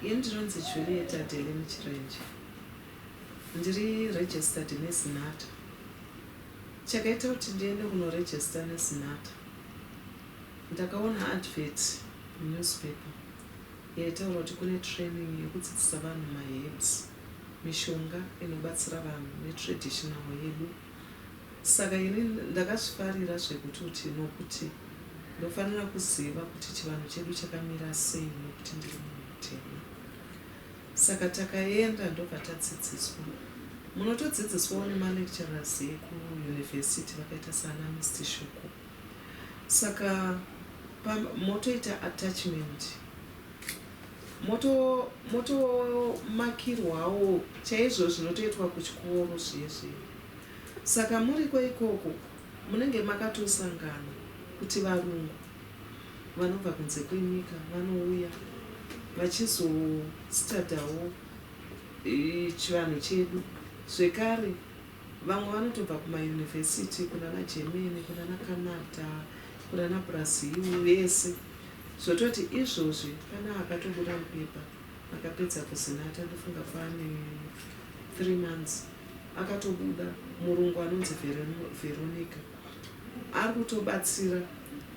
ndinonzi juliet adele muchirenje ndiri registered nesinata chakaita kuti ndiende kunoregista nesinata Ndakaona advert munewspaper yaitaura kuti kune training yekudzidzisa vanhu maherbs, mishonga inobatsira vanhu netraditional yedu saka ini ndakazvifarira zvekutoti nokuti ndofanira kuziva kuti chivanhu chedu chakamira sei nokuti ndiri munhu mutema. Saka takaenda ndobva tadzidziswa. Munotodzidziswawo nemalecturers ekuUniversity vakaita sana Mister Shoko. Saka pamba motoita attachment moto motomakirwawo chaizvo zvinotoitwa kuchikoro zviye zviye. Saka muriko ikoko munenge makatosangana kuti varungu vanobva kunze kwenyika vanouya vachizostadhawo chivanhu chedu zvekare. Vamwe vanotobva kumauniversity kunana Germany kunana Canada kunana Brazil vese zvototi izvozvi pane akatobuda mupepa akapedza kuzinata ndofunga pane three months akatobuda murungu anonzi Veronica ari kutobatsira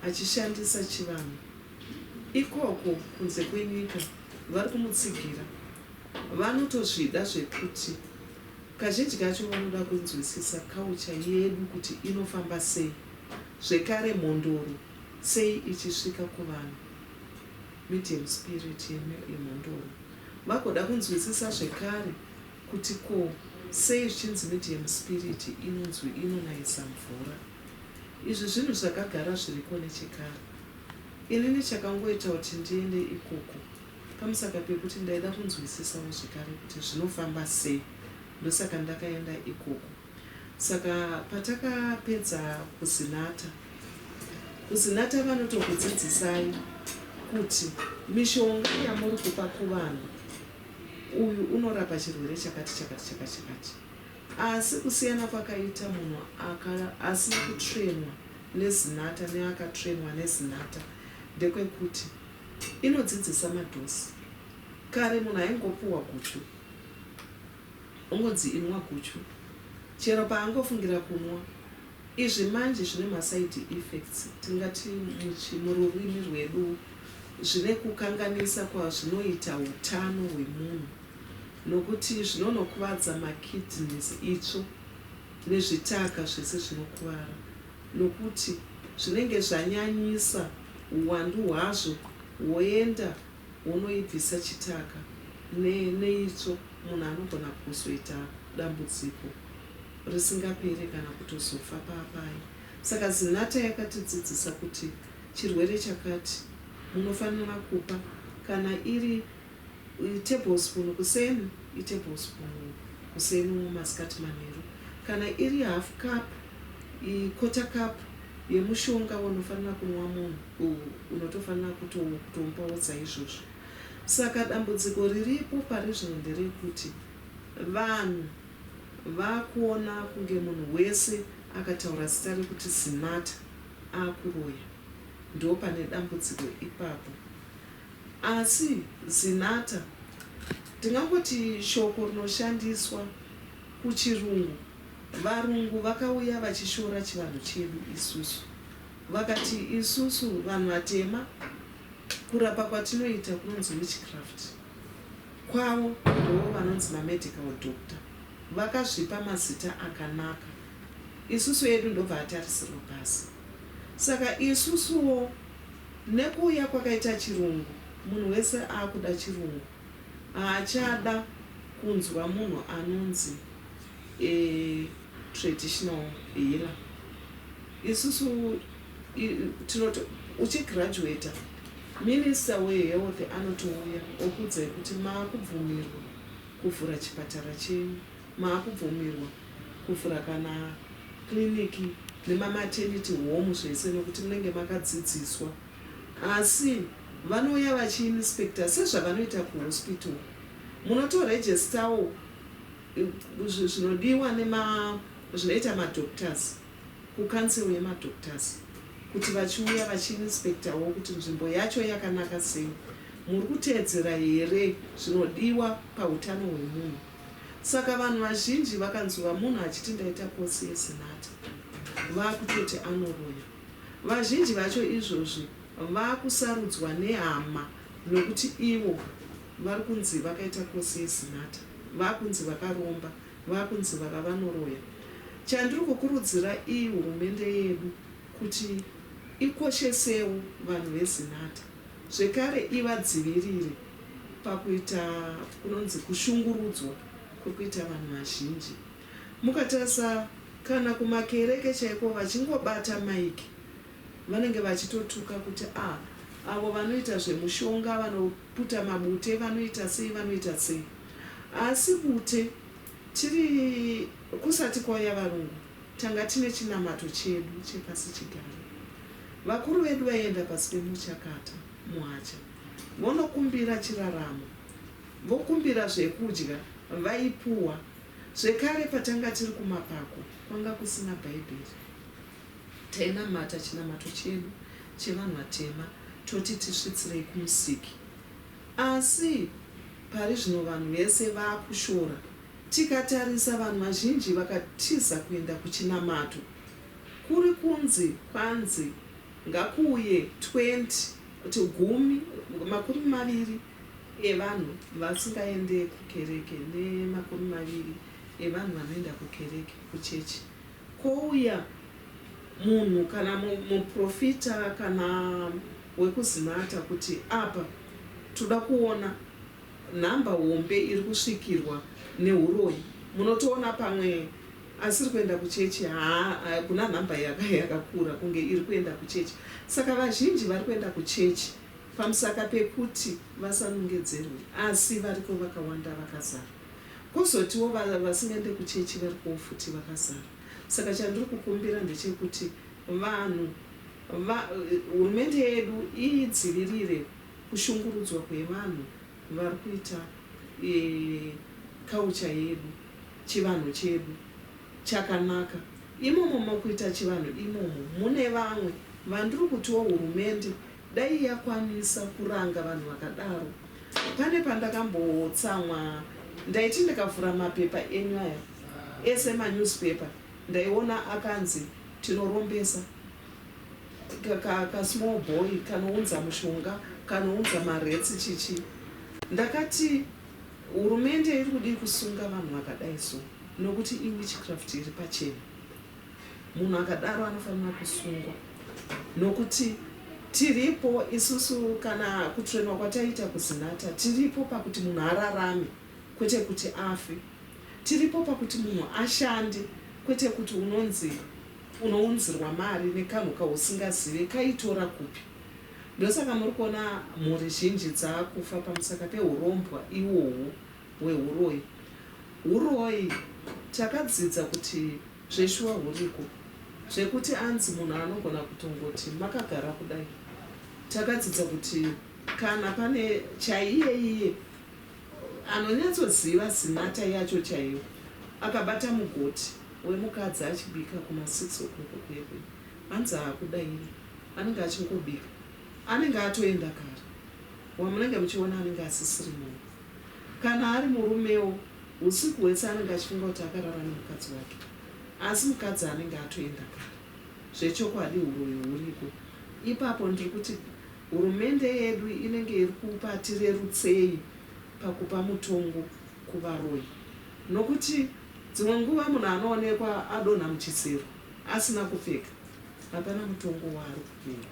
achishandisa chivanhu ikoko kunze kwenyika vari kumutsigira vanotozvida zvekuti Kazhinji kacho vanoda kunzwisisa culture yedu kuti inofamba sei zvekare mhondoro sei ichisvika kuvanhu medium spirit yemhondoro vagoda kunzwisisa zvekare kuti ko sei zvichinzi medium spirit inonzwi inonayisa mvura izvi zvinhu zvakagara zviriko nechekare inini chakangoita kuti ndiende ikoko Pamusaka pekuti ndaida kunzwisisawo zvekare kuti zvinofamba sei ndosaka ndakaenda ikoko. Saka patakapedza kuzinata, kuzinata vanotokudzidzisai kuti mishonga yamuri kupa kuvanhu uyu unorapa chirwere chakati chakati chakati chakati. Asi kusiyana kwakaita munhu aka asina kutrainwa nezinata neakatrainwa nezinata ndekwekuti. Inodzidzisa madose. Kare munhu aingopuhwa guchu ongonzi inwa guchu chero paangofungira kunwa. Izvi manje zvine maside effects tingati muchi mururimi rwedu zvine kukanganisa kwazvinoita utano hwemunhu nokuti zvinonokuvadza makidneys, itsvo nezvitaka zvese zvinokuvara. nokuti zvinenge zvanyanyisa huwandu hwazvo woenda wonoibvisa chitaka ne neitsvo munhu anogona kuzoita dambudziko risingapere kana kutozofa paapaye saka Zinatha yakatidzidzisa kuti chirwere chakati munofanira kupa kana iri tablespoon kuseni itablespoon kuseni or masikati manheru. Kana iri half cup, quarter cup yemushonga waunofanira kunwa munhu unotofanira kutomupawo saizvozvo. Saka dambudziko riripo pari zvino nderekuti vanhu vakuona kunge munhu wese akataura zita rekuti Zinatha akuroya. Ndopane dambudziko ipapo. Asi, Zinatha, ndingangoti shoko rinoshandiswa kuChirungu, Varungu vakauya vachishora chivanhu chedu isusu. Vakati isusu vanhu vatema, kurapa kwatinoita kunonzi witchcraft. Kwavo ndivo vanonzi mamedical doctor. Vakazvipa mazita akanaka. Isusu edu ndobva atarisirwa pasi. Saka isusuwo nekuuya kwakaita chirungu munhu wese akuda chirungu haachada kunzwa munhu anonzi a traditional healer isusu tinoti uchi graduater minister we health anotouya okuudzai kuti makubvumirwa kuvhura chipatara chenyu. Maakubvumirwa kuvhura kana kiriniki nemamateniti homu zvese nokuti munenge makadzidziswa. Asi vanouya vachiinispekita sezvavanoita kuhosipito. Munotorejestawo zvinodiwa nezvinoita madhokutazi kukansero yemadhokutazi kuti vachiuya vachiinispekitawo kuti nzvimbo yacho yakanaka sei. Muri kuteedzera here zvinodiwa pautano hwemunhu? Saka vanhu vazhinji vakanzwa munhu achiti ndaita kosi yeZinatha vakutoti anoroya. Vazhinji vacho izvozvi vakusarudzwa nehama nokuti ivo vari kunzi vakaita kosi yeZinatha, vakunzi vakaromba, vakunzi vakavanoroya. Chandiri kukurudzira iyi hurumende yedu kuti ikoshesewo vanhu veZinatha. zvekare ivadzivirire pakuita kunonzi kushungurudzwa kwekuita vanhu vazhinji. Mukatarisa kana kumakereke chaiko vachingobata mic vanenge vachitotuka kuti ah avo vanoita zvemushonga vanoputa mabute vanoita sei vanoita sei asi bute tiri kusati kwauya varungu Tanga tine chinamato chedu chepasichigare. Vakuru vedu vaienda pasi pemuchakata, muhacha, vonokumbira chiraramo, vokumbira zvekudya, vaipuwa. Zvekare, patanga tiri kumapako, kwanga kusina Bhaibheri. Tainamata chinamato chedu chevanhu vatema toti tisvitsirei kuMusiki. Asi pari zvino vanhu vese vakushora. Tikatarisa vanhu vazhinji vakatiza kuenda kuchinamato kuri kunzi kwanzi ngakuuye 20 kuti gumi makumi maviri evanhu vasingaende kukereke nemakumi maviri evanhu vanoenda kukereke kuchechi kouya munhu kana muprofita kana wekuzinata kuti apa toda kuona Number hombe iri kusvikirwa nehuroyi munotoona pamwe asiri kuenda kuchechi haa kuna number yakakura kunge iri kuenda kuchechi saka vazhinji vari kuenda kuchechi pamusaka pekuti vasanongedzerwe asi variko vakawanda vakazara kozotiwo vasingaende kuchechi varikowo futi vakazara saka chandiri kukumbira ndechekuti vanhu va hurumende yedu idzivirire kushungurudzwa kwevanhu vari kuita culture yedu chivanhu chedu chakanaka imomo makuita chivanhu imomo mune vamwe vandiri kutiwo hurumende dai yakwanisa kuranga vanhu vakadaro pane pandakambotsamwa ndaiti ndikavhura mapepa enyu aya ese manewspaper ndaiona akanzi tinorombesa kasmall boy kanounza mushonga kanounza maretsi chichi ndakati hurumende iri kudii kusunga vanhu vakadai so nokuti iwitchcraft iri pachena munhu akadaro anofanira kusungwa nokuti tiripo isusu kana kutrainwa kwataita kuzinata tiripo pakuti munhu ararame kwete kuti afe tiripo pakuti munhu ashande kwete kuti unonzi unounzirwa mari nekanhu kausingazive kaitora kupi ndosaka muri kuona mhuri zhinji dzakufa pamusaka pehurombwa iwohwo hwehuroyi huroyi takadzidza kuti zveshuwa huriko zvekuti anzi munhu anogona kutongoti makagara kudai takadzidza kuti kana pane chaiyeiye Anonyatsoziva zinata yacho chaiyo. Akabata mugoti wemukadzi achibika kuma six o'clock kuye kuye. Hanzi haakudaire. Anenge achingobika. Anenge atoenda kare. Wamunenge muchiona anenge asisiri munhu. Kana ari murumewo husiku hwese anenge achifunga kuti akarara nemukadzi wake. Asi mukadzi anenge atoenda kare. Zvechokwadi huroyi huriko ipapo ndiri kuti. Hurumende yedu inenge iri kupa tirerutsei pakupa mutongo kuvaroyi nokuti dzimwe nguva munhu anoonekwa adonha muchisero asina kupfeka hapana mutongo waari kupiwa.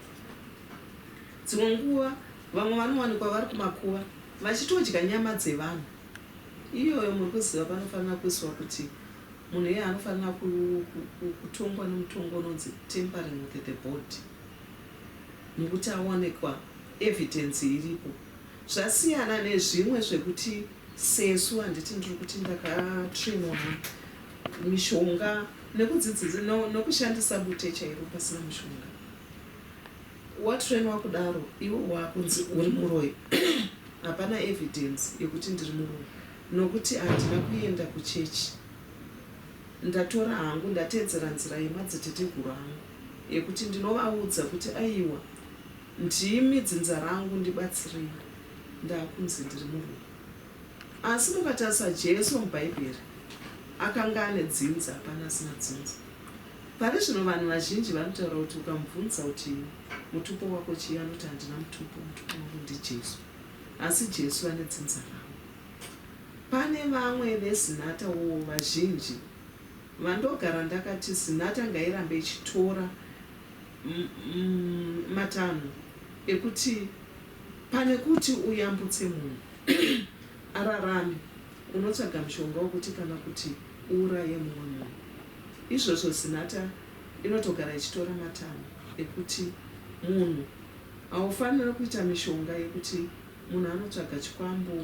Dzimwe nguva vamwe vanowanikwa vari kumakuva vachitodya nyama dzevanhu iyoyo muri kuziva panofanira kuiswa kuti munhu iyeye anofanira kutongwa nemutongo unonzi tampering with the body. nekuti aonekwa evidence iripo zvasiyana nezvimwe zvekuti sesu handiti ndiri kuti ndakatrainwa mishonga nekudzidzisa no, nokushandisa bute chairo pasina mushonga watrainwa kudaro iwe wakunzi uri muroyi hapana evidence yekuti ndiri muroyi nokuti handina kuenda kuchechi ndatora hangu ndateedzera nzira yemadziteteguru angu yekuti ndinovaudza kuti aiwa ndimi dzinza rangu ndibatsirei ndakunzi ndiri murume asi mukatarisa Jesu mubhaibheri akanga ane dzinza hapana asina dzinza pari zvino vanhu vazhinji vanotaura kuti ukamubvunza kuti mutupo wako chii anoti handina mutupo mutupo wangu ndiJesu asi Jesu ane dzinza rangu pane vamwe vezinata wo vazhinji Vandogara ndakati Zinatha ngairambe ichitora matanho ekuti pane kuti uyambutse munhu ararame unotsvaga mushonga wekuti kana kuti uuraye mumwe munhu. Izvozvo Zinatha inotogara ichitora matanho ekuti munhu haufanire kuita mishonga yekuti munhu anotsvaga chikwambo,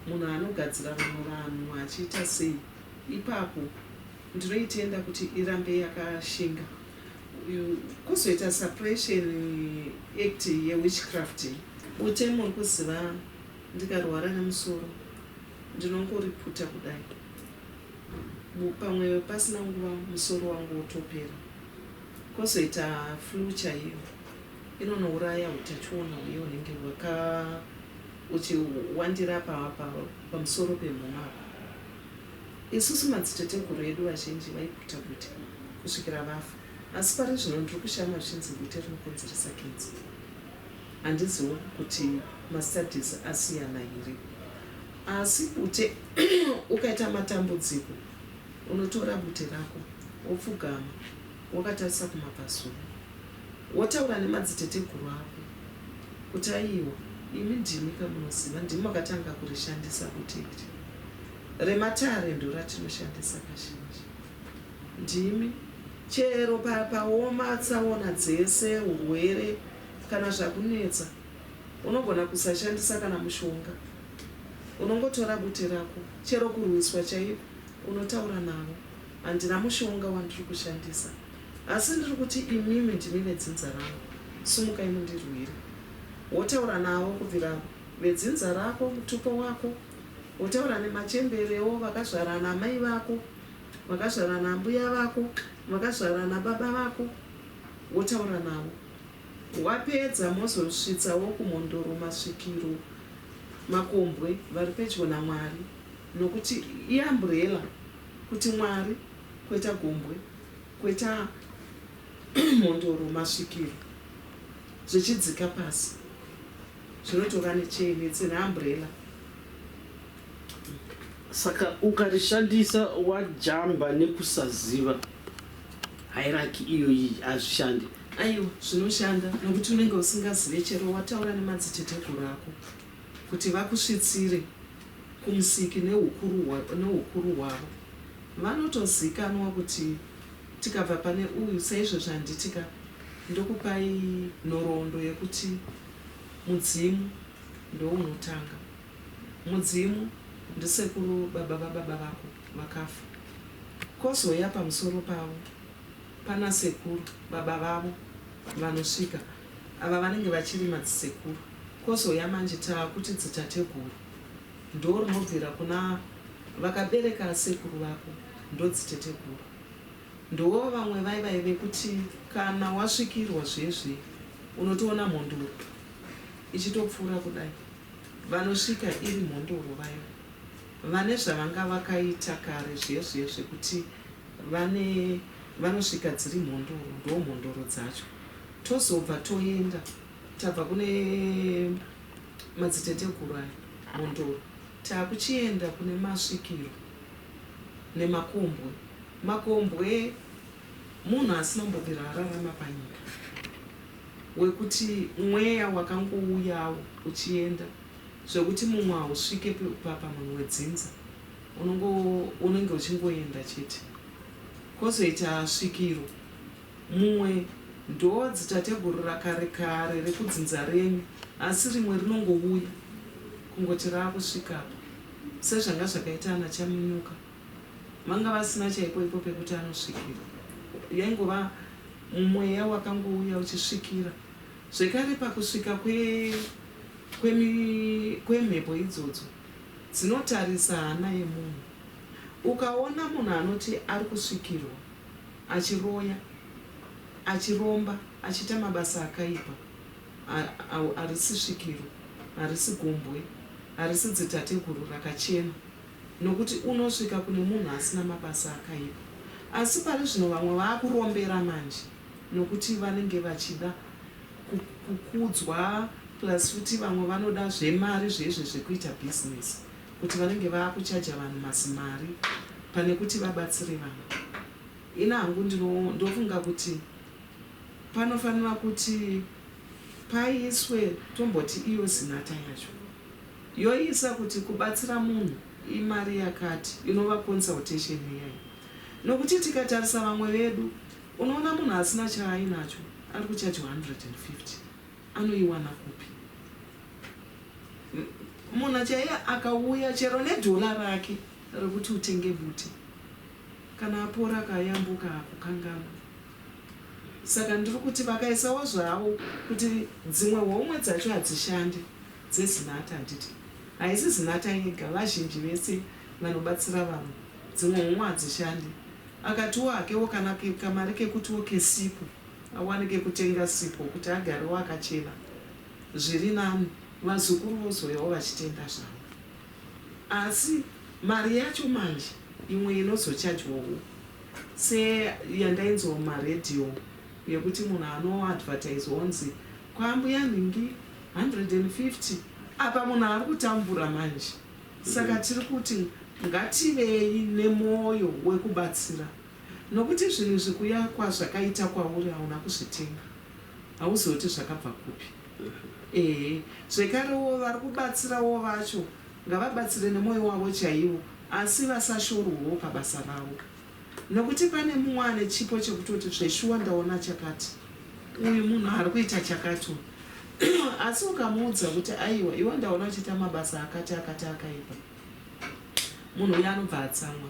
munhu anogadzira vamwe vanhu achiita sei. Ipapo ndinoitenda kuti irambe yakashinga uyu kozoita suppression act ye witchcraft iyi. Bute muri kuziva ndikarwara nemusoro ndinongoriputa kudai pamwe pasina nguva musoro wangu wotopera. Kozoita flue chaiyo inonouraya hutachiona huye hunenge hwaka uchiwandira apa pamusoro pemhuno apa. Isusu madziteteguru edu vazhinji vaiguta gwiti kusvikira vafa asi pari zvino ndiri kushama zvichinzi gwiti rinokonzeresa kenza. Handiziwo kuti mastudies asiyana here asi bute ukaita matambudziko unotora bute rako wopfugama wakatarisa kumabvazuva Wotaura nemadziteteguru ako kuti aiwa imi ndimika munoziva ndimi makatanga kurishandisa kuti iri rematare ndoratinoshandisa kazhinji ndimi chero paoma tsaona dzese urwere kana zvakunetsa unogona kusashandisa kana mushonga unongotora bute rako chero kurwiswa chaiko unotaura navo handina mushonga wandiri kushandisa Asi ndiri kuti imimi ndimi vedzinza rangu, sumukai mundirwire. Wotaura navo kubvira vedzinza rako, mutupo wako, wotaura nemachemberewo, vakazvara naamai vako, vakazvara naambuya vako, vakazvara nababa vako, wotaura navo. Wapedza mozosvitsa vokuMhondoro, Masvikiro, Makombwe vari pedyo naMwari, nokuti iamburela kuti Mwari, kwete gombwe. Kweta mhondoro masvikiro zvichidzika pasi zvinotova nechain it's an umbrella. Saka ukarishandisa wajamba nekusaziva hierarchy iyoyi hazvishande. Aiwa zvinoshanda nokuti unenge usingazive chero wataura nemadziteteguru ako. Kuti vakusvitsire kuMusiki neHukuru hwavo. Vanotozikanwa kuti tikabva pane uyu saizvozvi handitika ndokupai nhoroondo yekuti Mudzimu ndounotanga. Mudzimu ndisekuru baba vababa vako vakafa. Kozouya pamusoro pavo panasekuru baba vavo vanosvika Ava vanenge vachiri madzisekuru. Kozouya manje taakuti dzitateguru. Ndoorinobvira kuna vakabereka sekuru vako ndodziteteguru. Ndoo vamwe vaiva vekuti kana wasvikirwa zve zve unotoona mhondoro ichitopfuura kudai. Vanosvika iri mhondoro vaya. Vane zvavanga vakaita kare zve zve zvekuti vane vanosvika dziri mhondoro. Ndoomhondoro dzacho. Tozobva toenda tabva kune madziteteguru aya Mhondoro takuchienda kune masvikiro nemakombwe. Makombwe munhu asinombobvira ararama panyika wekuti mweya wakangouyawo uchienda zvekuti mumwe hausvike pamwe wedzinza unenge uchingoenda chete. Kozoita svikiro Mumwe ndoo dzitateguru rakare kare rekudzinza renyu asi rimwe rinongouya kungoti raakusvikapo sezvanga zvakaita ana Chaminyuka vanga vasina chaipoipo pekuti anosvikira yaingova mweya wakangouya uchisvikira zvekare pakusvika kwe kwemi kwemhepo idzodzo dzinotarisa hana yemunhu ukaona munhu anoti arikusvikirwa achiroya, achiromba, achiita mabasa akaipa, harisi svikiro, harisi gombwe, harisi dzitateguru rakachena, nokuti unosvika kune munhu asina mabasa akaipa. Asi pari zvino vamwe vakurombera manje nokuti vanenge vachida kukudzwa plus futi vamwe vanoda zvemari zvezve zvekuita business. kuti vanenge vakuchaja vanhu mazimari pane kuti vabatsire vanhu. Ini hangu ndofunga kuti panofanira kuti paiswe tomboti iyo zinata yacho yoisa kuti kubatsira munhu imari yakati inova consultation iyayi nokuti tikatarisa vamwe vedu unoona munhu asina chaainacho ari kuchajwa 150 Anoiwana kupi munhu chaiye akauya chero nedhola rake rekuti utenge bute kana apora akayambuka hakukanganwa. Saka ndiri kuti vakaisawo zvavo kuti dzimwe homwe dzacho hadzishande dzeZinatha handiti? Haisi Zinatha yega vazhinji vese vanobatsira vamwe dzimwe homwe hadzishande. Akatiwo hakewo kana kamari kekutiwo kesipo. Awane kekutenga sipo kuti agarewo akachena zviri nani vazukuru vozouyawo vachitenga zvavo asi mari yacho manje imwe inozochajwawo seyandainzwa muma radio yekuti munhu anoadvertise onzi kwaambuya nhingi 150 apa munhu ari kutambura manje saka tiri kuti ngativei nemoyo wekubatsira. Nokuti zvinhu zvekuyakwa zvakaita kwauri hauna kuzvitenga. Hauzive kuti zvakabva kupi. Ehe. Zvekarewo, vari kubatsirawo vacho ngavabatsire nemwoyo wavo chaiwo, asi vasashorwewo pabasa ravo. Nokuti pane mumwe ane chipo chekutoti, Zveshuwa ndaona chakati. Uyu munhu ari kuita chakati uyu. Asi ukamuudza kuti, Aiwa, iwe ndaona uchiita mabasa akati akati akaipa. Munhu uya anobva atsamwa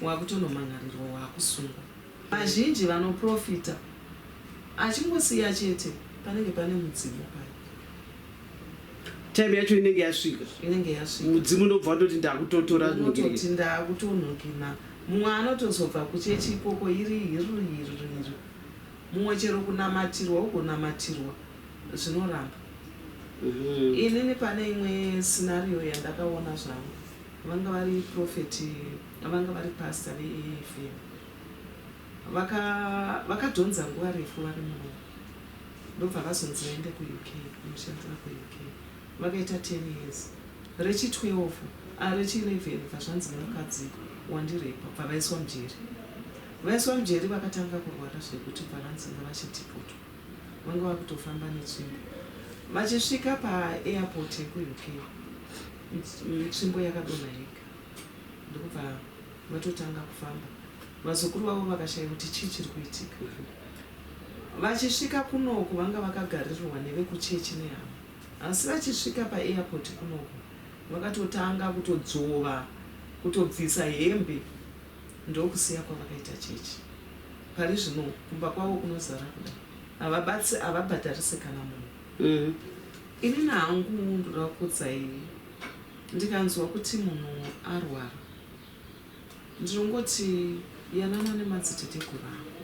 wakutonomhan'arirwa wakusungwa. Vazhinji vanoprofita achingosiya chete panenge pane mudzimu paya. Time yacho inenge yasvika. Inenge yasvika. Mudzimu ndobva watoti ndakutotora zvinhu. Unototi ndakutonhukina. Mumwe anotozobva kuchechi ikoko iri hiru hiru hiru. Mumwe chero kunamatirwa ugonamatirwa. zvinoramba mm. inini pane imwe scenario yandakaona zvangu vanga vari prophet vanga vari pastor veev vakadhonza vaka nguva refu vari muno ndobva vazonzi vaende kuuk kunoshandira kuuk vakaita 10 years rechi 12 ah, rechi 11 vazvanzi nemukadzi wandirepa bva vaiswa mujeri vaiswa mujeri vakatanga kurwara zvekuti bva vanzi ngavachitipoto vanga vakutofamba netsvimbo vachisvika paairport yekuuk tsvimbo yakadonha yega ndokubva vatotanga kufamba vazukuru vavo vakashaya kuti chii chiri kuitika vachisvika kunoku vanga vakagaririrwa nevekuchechi nehama asi vachisvika paairport kunoku vakatotanga kutodzvova kutobvisa hembe ndokusiya kwavakaita chechi parizvino kumba kwavo kunozara kudai havabatsi havabhadharise kana munhu mm. ini nahangu ndoda kukudzaivi ndikanzwa kuti munhu arwara ndinongoti yanana nemadziteteguru ako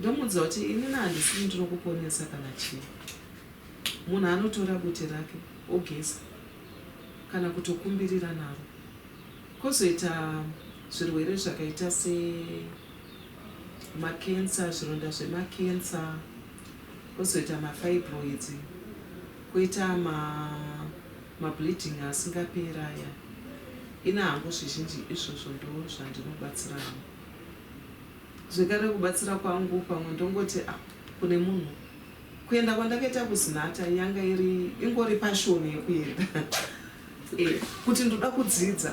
ndomuudza kuti ini nahandisii ndinokuponesa kana chii munhu anotora bute rake ogeza kana kutokumbirira naro Kozoita zvirwere zvakaita se makensa, zvironda zvemakensa, kozoita mafibroids, koita ma mableeding asingaperi aya. Ini hangu zvizhinji izvozvo ndozvandinobatsira hangu. Zvekare kubatsira kwangu pamwe ndongoti ah kune munhu Kuenda kwandakaita kuZinatha yanga iri ingori passion yekuenda eh, kuti ndoda kudzidza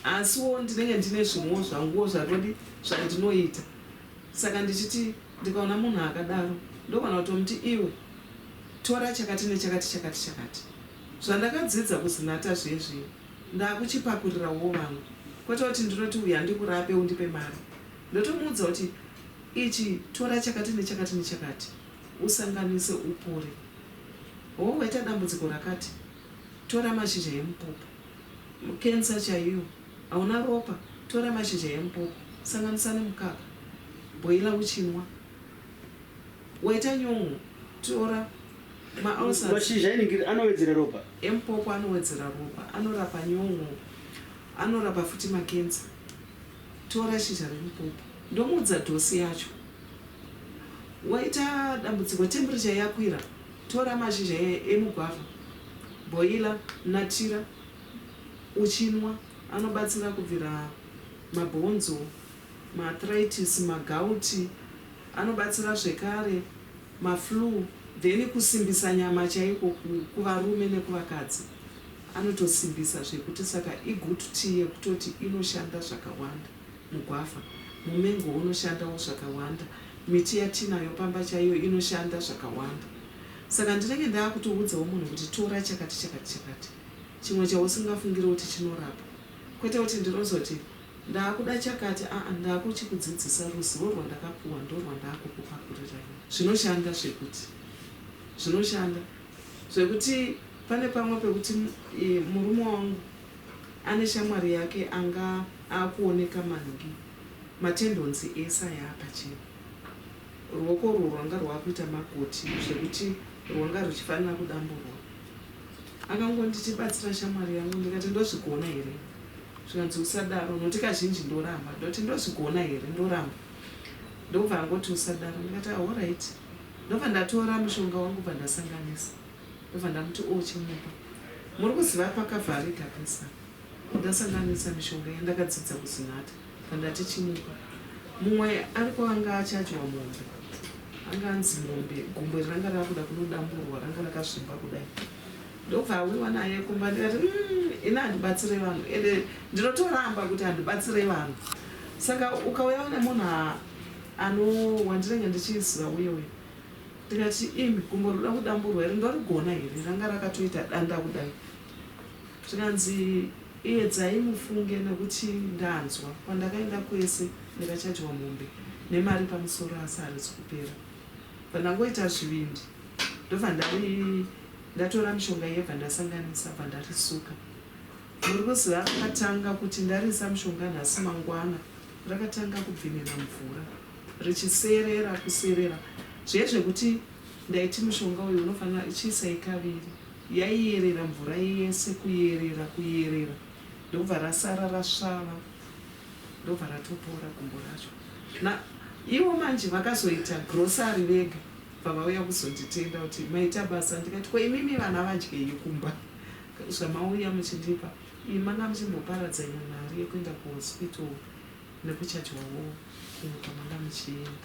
asiwo ndinenge ndine zvimwewo zvanguwo zvatodi zvandinoita saka ndichiti ndikaona munhu akadaro ndogona kutomuti iwe tora chakati nechakati chakati chakati zvandakadzidza kuzinata zvezvi ndakuchipakurirawo vangu kwete kuti ndinoti uya ndikurape undipe mari ndotomuudza kuti ichi tora chakati nechakati nechakati Usanganise upore. Hoo waita dambudziko rakati? Tora mashizha emupopo. Cancer chaiyo. Hauna ropa? Tora mashizha emupopo sanganisa nemukaka. Bhoila uchinwa. Waita nyon'o? Tora ma ulcers. Mashizha enhingiri anowedzera ropa? Emupopo anowedzera ropa, anorapa nyon'o, anorapa futi makenza. Tora shizha remupopo ndomuudza dose yacho. Waita dambudziko temperature yakwira tora mashizha emugwavha boiler natira uchinwa anobatsira kubvira mabhonzo, maarthritis, magauti anobatsira zvekare maflue then kusimbisa nyama chaiko kuvarume nekuvakadzi. Anotosimbisa zvekuti saka igood tea yekutoti inoshanda zvakawanda. Mugwavha, mumengo unoshandawo zvakawanda. Miti yatinayo pamba chaiyo inoshanda zvakawanda. Saka ndinenge ndaakutoudzawo munhu kuti tora chakati chakati chakati. Chimwe chausingafungire kuti chinorapa. Kwete kuti ndinozoti ndaakuda chakati aa ndaakuchikudzidzisa ruzivo rwandakapuwa ndorwandaakukupakurira ini. Zvinoshanda zvekuti zvinoshanda. Zvekuti pane pamwe pekuti murume wangu ane shamwari yake anga akuoneka mangi matendonzi ese aya apachena. Ruoko urwo rwanga rwakuita makoti zvekuti rwanga ruchifanira kudamburwa. Akangonditi batsira shamwari yangu ndikati ndozvigona here? Zvikanzi usadaro nokuti kazhinji ndoramba ndoti ndozvigona here? Ndoramba. Ndokubva angoti usadaro ndikati ahoraiti. Ndobva ndatora mushonga wangu bva ndasanganisa ndobva ndamuti ochimupa. Muri kuziva pakavharika pese apa. Ndasanganisa mishonga iya ndakadzidza kuzinata bva ndati chimupa. Mumwe ariko anga achadya mombe anga anzi mombe gumbo iri ranga rakuda kunodamburwa ranga rakazvimba kudai. Ndobva awiwa naye kumba ndikati umm ini handibatsire vanhu ende ndinotoramba kuti handibatsire vanhu saka ukauya une munhu Ano wandinenge ndichiziva uye uye ndikati imi gumbo rinoda kudamburwa here ndorigona here ranga rakatoita danda kudai zvikanzi iyedzai mufunge nekuti ndanzwa kwandakaenda kwese ndikachajwa mombe nemari pamusoro asi harizi kupera bvandangoita zvivindi ndobva ndari ndatora mishonga iye bvandasanganisa bvandarisuka muri kuziva akatanga kuti ndarisa mishonga nhasi mangwana rakatanga kubvinira mvura richiserera kuserera zviye zvekuti ndaiti mushonga uyu unofanira chiisai kaviri yaiyerera mvura yese kuyerera kuyerera ndokubva rasara rasvava ndobva ratopora gumbo racho na ivo manje vakazoita grocery vega pavauya kuzonditenda kuti maita basa ndikati ko imimi vana vadyei kumba zvamauya muchindipa Imi manga muchimboparadza imwe mari yekuenda kuhospital nekuchajwawo kumwe kwamanga muchienda.